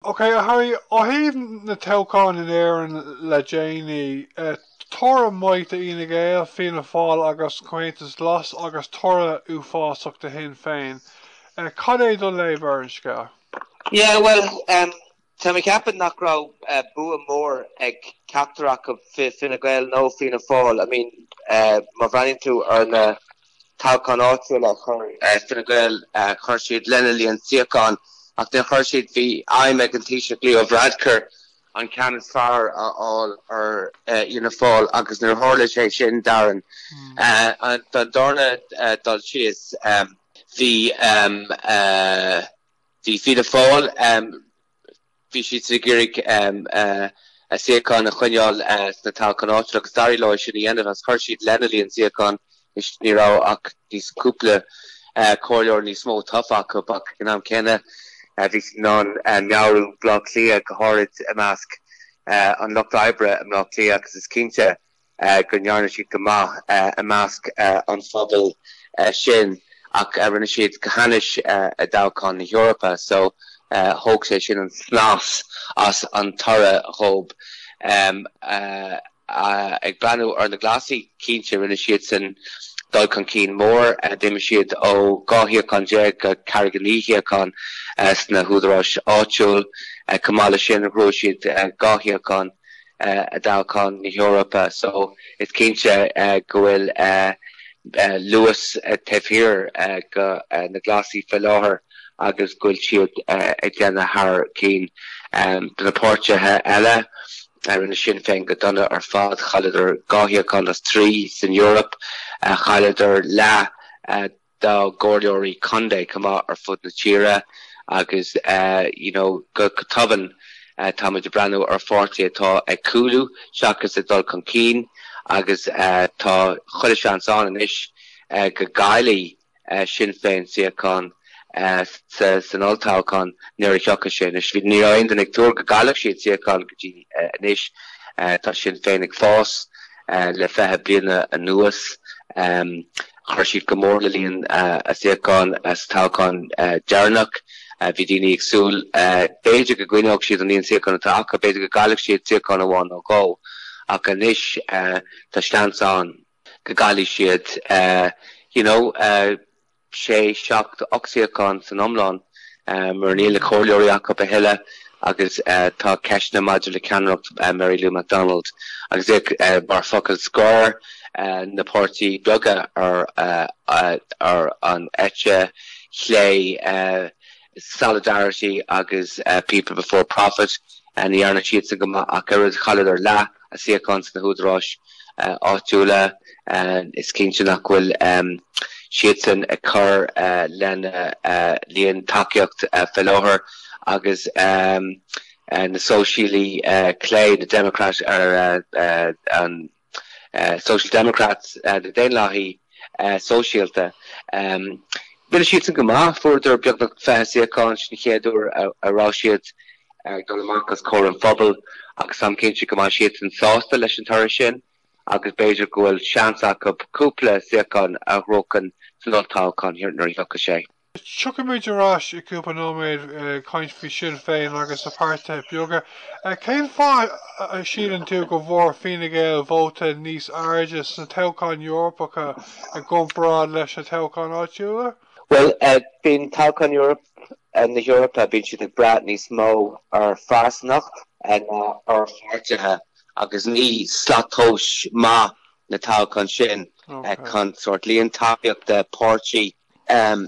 Ok a Harry, ó thaobh na dtoghchán in Éirinn le déanaí, toradh maith do Fhine Gael, Fianna Fáil agus Comhaontas Glas agus toradh uafásach do Shinn Féin. Cad é do léamh ar an scéal? Yeah bhuel, tá mé ag ceapadh nach raibh bua mór ag ceachtar acu, Fine Gael nó Fianna Fáil. I mean má bhreathnaíonn tú ar na. toghcháin áitiúla a chur Fine Gael chuir siad lena líon suíochán ach níor chuir siad bhí aidhm ag an Taoiseach Leo Varadkar an ceann is fearr a fháil ar Fhianna Fáil agus níor tharla sé sin Dar ndóigh don darna dul síos bhí bhí Fianna Fáil Bhí siad ag iarraidh a suíocháin a choinneáil sna toghcháin áitiúla agus d'éirigh leo é sin a dhéanamh is chuir siad lena líon suíochán is ní raibh ach níos cúpla comhairleoir níos mó tofa acu ach ag an am céanna bhí siad in ann neartú i mBleá Cliath go háirid i measc an lucht oibre i mBleá Cliath agus is cinnte go ndearna siad go maith i measc an phobail sin ach rinne siad go hainnis i dtoghcháin na hEorpa so thóg sé sin an snas as an toradh dhób. Ag breathnú ar na Glasaigh, cinnte rinne siadsan dul chun cinn mór, d'imigh siad ó dhá shuíochán déag go ceathair go naoi suíochán sna húdaráis áitiúil. Chomh maith leis sin, bhuaigh siad dhá shuíochán. i dtoghcháin na hEorpa so is cinnte go bhfuil luas taobh thiar de na Glasaigh fé láthair agus go bhfuil siad ag déanamh thar cinn De na páirtithe eile. Rinne Sinn Féin go dona ar fad, chailleadar dhá shuíochán as trí san Eoraip, chailleadar leath dá gComhairleoirí Contae chomh maith ar fud na tíre agus you know go tobann táimid ag breathnú ar pháirtí atá ag cúlú seachas ag dul chun cinn agus tá chuile seans ann anois go gcaillfidh Sinn Féin suíocháin san olltoghchán nuair a thiocfaidh sé anois. Bhí ní raibh aon duine ag tuar go gcaillfeadh siad suíocháin go dtí anois tá Sinn Féin ag fás le fiche bliain anuas. Um, Chuir siad go mór le líon a suíochán sa toghchán deireanach. Bhí daoine ag súil b'fhéidir go gcoinneodh siad an líon suíochán atá acu, b'fhéidir go gcaillfeadh siad suíochán amháin nó dhó, ach anois tá seans ann go gcaillfidh siad, you know, sé, seacht, ocht suíochán san iomlán. mar níl na comhairleoirí acu a thuilleadh agus tá ceisteanna maidir le ceannaireacht Mary Lou McDonald agus mar fhocal scoir na páirtithe beaga ar an eite chlé, Solidarity agus People Before Profit. Ní dhearna siadsan go maith ach oiread, chailleadar leath. a suíochán sna húdaráis áitiúla, is cinnte nach bhfuil siadsan ag cur lena líon tacaíocht fé láthair agus na sóisialaigh clé, na Democrat ar an Social Democrats, na Daonlathaigh, sóisialta. Rinne siadsan go maith, fuaireadar beagnach fiche suíochán, sin an chéad uair a raibh siad ag dul amach os comhair an phobail agus táim cinnte go mbeidh siadsan sásta leis an toradh sin agus b'fhéidir go bhfuil seans acu cúpla suíochán a ghnóchan san olltoghchán nuair a thiocfaidh sé. Tiocfaimid ar ais i gcúpla nóiméad ag caint faoi Sinn Féin agus na páirtithe beaga. Cén fáth a síleann tú go bhfuair Fine Gael vóta níos airde sna toghcháin Eorpacha i gcomparáid leis na toghcháin áitiúla? Bhuel, bíonn toghcháin na hEorpa, bíonn siad ag brath níos mó ar phearsanacht ná ar pháirtithe agus ní slat tomhais maith na toghcháin sin chun sórt líon tacaíochta páirtí a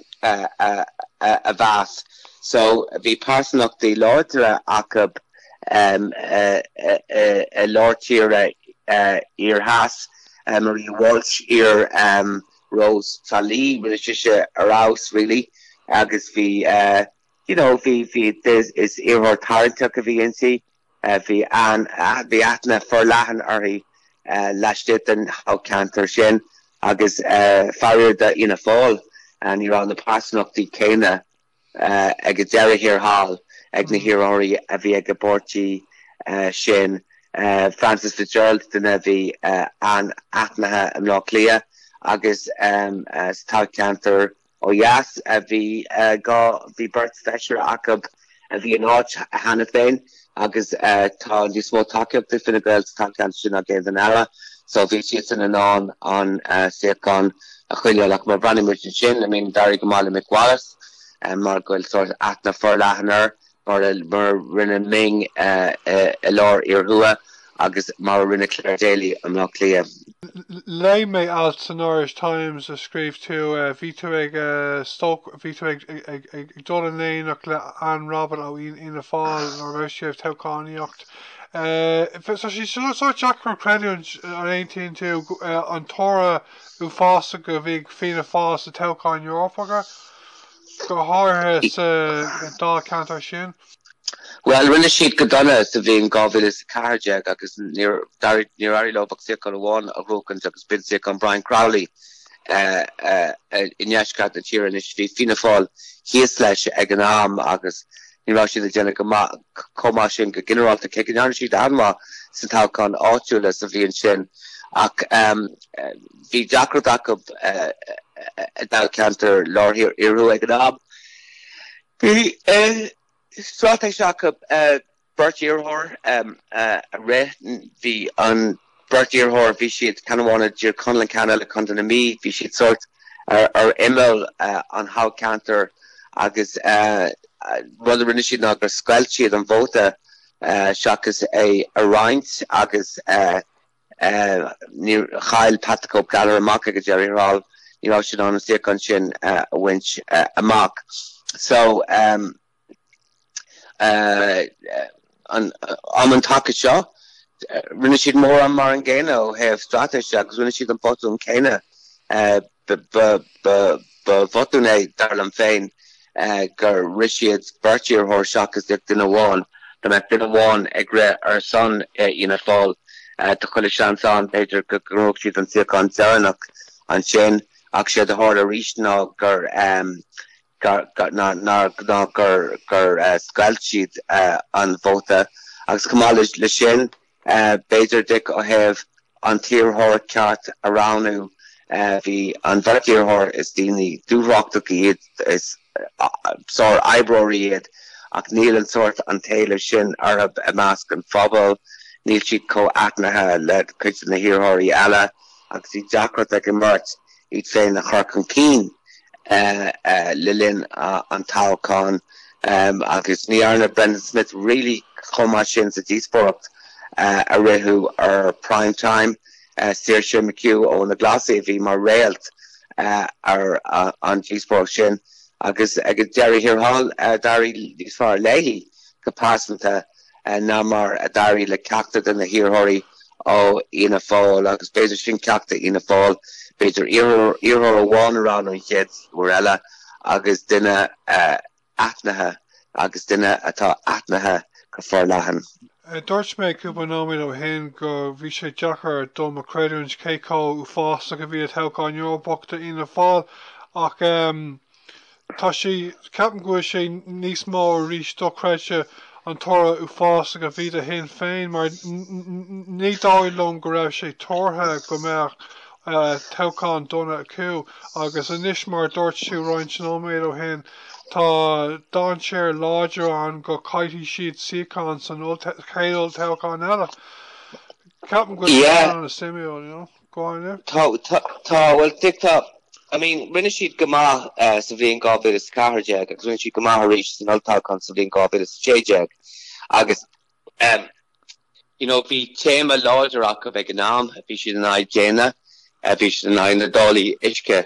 mheas. So, bhí pearsantachtaí láidre acu i lár tíre thiar theas, Maria Walsh, iar-Rós Thrá Lí, rinne sise ar fheabhas really agus bhí, you know, bhí, bhí, is iarrthóir tarraingteach a bhí inti. Bhí aithne forleathan uirthi laistigh den thoghcheantar sin agus faraor d'Fhianna Fáil ní raibh na pearsantachtaí céanna ag deireadh thiar thall ag na hiarrthóirí a bhí ag an bpáirtí sin. Frances Fitzgerald duine a bhí an-aithnithe i mBleá Cliath agus sa toghcheantar Ó dheas, bhí dhá, bhí beirt feisire acu a bhí in áit cheana féin agus tá níos mó tacaíochta ag Fine Gael sa toghcheantar sin ná i gceantair eile so bhí siadsan in ann an suíochán a choinneáil ach má bhreathnaigh muid ansin, I mean d'éirigh go maith le Mick Wallace mar go bhfuil sórt aithne forleathan air mar a rinne Ming i lár thiar thuaidh agus mar a rinne Clare Daly i mBleá Cliath. Léigh mé alt san Irish Times a scríobh tú, bhí tú ag stócáil, bhí tú ag dul in éineacht le Anne Rabbitte ó Fhianna Fáil nuair a raibh sí ag toghchánaíocht. Tá sé sórt deacair a chreidiúint an aontaíonn tú an toradh uafásach a bhí ag Fianna Fáil sna toghcháin Eorpacha. Go háirithe sa dá cheantar sin? Bhuel, rinne siad go dona sa bhliain 2014 agus níor éirigh leo ach suíochán amháin a ghnóchaint agus b'in suíochán Brian Crowley i ndeisceart na tíre anois. Bhí Fianna Fáil thíos leis ag an am agus ní raibh siad ag déanamh chomh maith sin go ginearálta, cé go ndearna siad an-mhaith sna toghcháin áitiúla sa bhliain sin ach Bhí deacracht acu i dtoghcheantar Lár Tíre Iarthuaisceart ag an am. Bhí straitéis acu beirt iarrthóir a rith. Bhí an beirt iarrthóir, bhí siad, ceann amháin i dTír Chonaill agus ceann eile i gContae na Mí. Bhí siad sórt ar imeall an thoghcheantair agus an rud a rinne siad ná gur scoilt siad an vóta seachas é a roinnt agus Chaill Pat the Cope Gallagher amach ag deireadh thiar thall. Ní raibh sé in ann an suíochán sin a bhaint amach. So, am an taca seo, rinne siad mórán mar an gcéanna ó thaobh straitéise agus rinne siad an botún céanna Ba bhotún é, dar liom féin, gur rith siad beirt iarrthóir seachas duine amháin. Dá mbeadh duine amháin ag rith ar son Fhianna Fáil, tá chuile sheans ann, b'fhéidir, go ngnóthódh siad an suíochán deireanach ansin. Ach séard a tharla arís ná gur, ná gur, gur scoilt siad an vóta. Agus chomh maith leis sin. B'fhéidir, d'fheicfeá ó thaobh an t-iarrthóir ceart a roghnú. Bhí an bheirt iarrthóir, is daoine dúthrachtacha iad, is sár-oibreoirí iad, ach níl an sórt an t-éileamh sin orthu i measc an phobail, níl siad chomh aithnithe le cuid de na hiarrthóirí eile, agus bhí deacracht ag an mbeirt iad féin a chur chun cinn le linn an toghcháin agus ní dhearna Brendan Smith really chomh maith sin sa díospóireacht a ritheadh ar Prime Time. Saoirse McHugh ó na Glasaigh a bhí mar réalt ar an díospóireacht sin agus ag deireadh thiar thall d'éirigh níos fearr léi go pearsanta. ná mar a d'éirigh le ceachtar de na hiarrthóirí ó Fhianna Fáil, agus b'fhéidir sin ceacht do Fhianna Fáil, b'fhéidir iarrthóir amháin a roghnú an chéad uair eile agus duine aithnithe, agus duine atá aithnithe go forleathan. Dúirt mé cúpla nóiméad ó shin go bhí sé deacair dom a chreidiúint cé chomh uafásach a bhí an toghchán Eorpach do Fhianna Fáil ach, Tá sé, ceapaim go bhfuil sé níos mó fós dochreidte an toradh uafásach a bhí ag Sinn Féin mar ní dóigh liom go raibh sé tuartha go mbeadh toghchán chomh dona acu agus anois mar a dúirt tú roinnt nóiméad ó shin tá dainséar láidir ann go gcaillfidh siad suíocháin san chéad olltoghchán eile. Ceapaim go bhfuil sé an-suimiúil. Tá, tá, bhuel, deacrachtaí, I mean, rinne siad go maith sa bhliain 2014 agus rinne siad go maith arís san olltoghchán sa bhliain 2016 agus, em, you know, bhí téama láidir acu ag an am, bhí siad in aghaidh déine, bhí siad in aghaidh na dtáillí uisce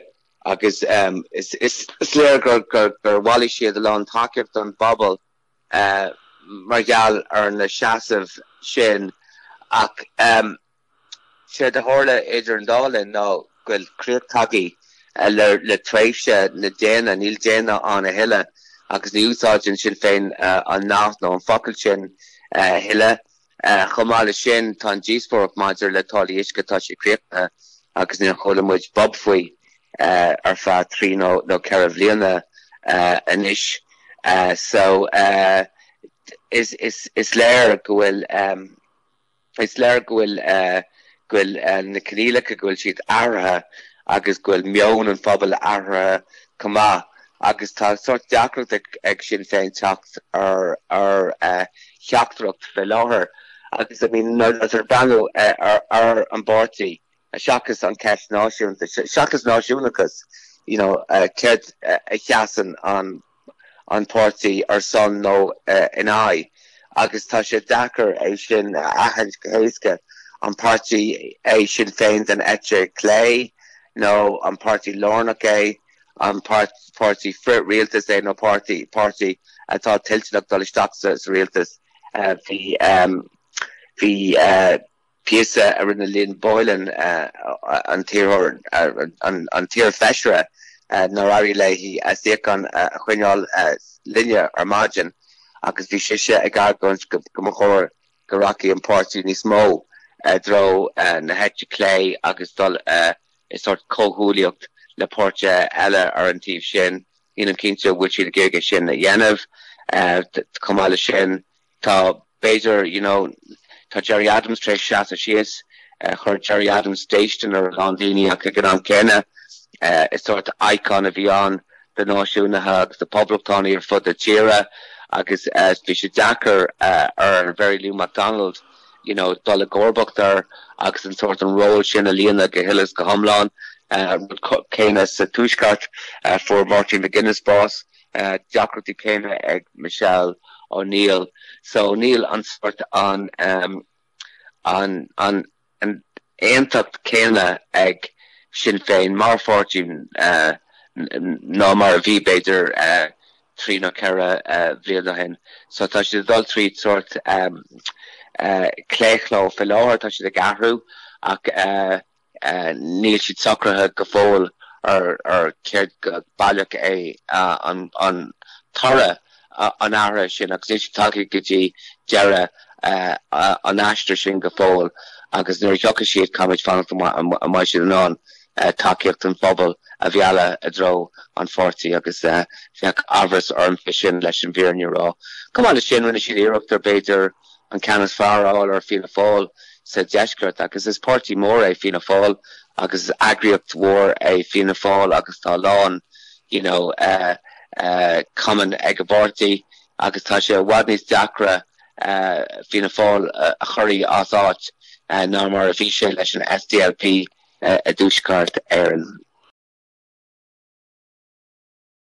agus, em, is, is, is léir gur, gur, gur bhailigh siad a lán tacaíochta ón bpobal, eh, mar gheall ar na seasaimh sin ach, em, Séard a tharla idir an dá linn ná go bhfuil críoch tagtha le tréimhse na déine, níl déine ann a thuilleadh, agus ní úsáideann Sinn Féin an nath nó an focal sin a thuilleadh. Chomh maith leis sin, tá an díospóireacht maidir le táillí uisce, tá sé críochnaithe agus níor chuala muid bob faoi ar feadh trí nó ceithre bhliana anois. So, is léir go bhfuil. Is léir go bhfuil na coinníollacha, go bhfuil siad athraithe agus go bhfuil meon an phobail athraithe chomh maith agus tá sórt deacracht ag Sinn Féin teacht ar theachtaireacht faoi láthair agus I mean nuair atá tú ag breathnú ar an bpáirtí seachas an cheist náisiúnta, seachas náisiúnachas, you know céard a sheasann an an páirtí ar son nó in aghaidh, agus tá sé deacair é sin a aithint go héasca, an páirtí é Sinn Féin den eite chlé nó an páirtí lárnach é, an páirtí frith-rialtais é nó páirtí, páirtí atá toilteanach dul isteach sa, sa rialtas. Bhí. píosa a rinne Lynn Boylan, an t-iarrthóir, an t-iar-fheisire nár éirigh léi a suíochán a choinneáil, linne ar maidin agus bhí sise ag argóint go mba chóir go rachadh an páirtí níos mó i dtreo na heite clé agus dul i sórt comhghuaillíocht le páirtithe eile ar an taobh sin. Nílim cinnte an bhfuil siad ag iarraidh é sin a dhéanamh. Chomh maith leis sin, Tá, b'fhéidir, you know, tá Gerry Adams tar éis seasamh síos, chuir Gerry Adams déistin ar a lán daoine ach ag an am céanna is sórt icon a bhí ann do náisiúnaithe agus do phoblachtánaigh ar fud na tíre agus bhí sé deacair ar Mhary Lou McDonald, you know, dul i gcomharbacht air agus an sórt an ról sin a líonadh go huile is go hiomlán. Rud céanna sa Tuaisceart, fuair Martin McGuinness bás. deacrachtaí céanna ag Michelle O'Neill so níl an sórt an an an an aontacht céanna ag Sinn Féin mar pháirtí ná mar a bhí b'fhéidir trí nó ceithre bhliain ó shin so tá siad ag dul tríd sórt claochló faoi láthair, tá siad ag athrú ach. Níl siad socraithe go fóill ar céard go baileach é an toradh an athraithe sin agus níl siad tagtha go dtí deireadh an aistir sin go fóill agus nuair a thiocfaidh siad caithfimid fanacht an mbeidh siad in ann tacaíocht an phobail a mhealladh i dtreo an pháirtí agus bheadh amhras orm faoi sin leis an bhfírinne a rá. Chomh maith leis sin rinne siad iarracht ar b'fhéidir an ceann is fearr a fháil ar Fianna Fáil sa deisceart agus is páirtí mór é Fianna Fáil agus is eagraíocht mhór é Fianna Fáil agus tá a lán you know cumann ag an bpáirtí agus tá sé i bhfad níos deacra Fianna Fáil a chur as áit ná mar a bhí sé leis an SDLP i dTuaisceart Éireann.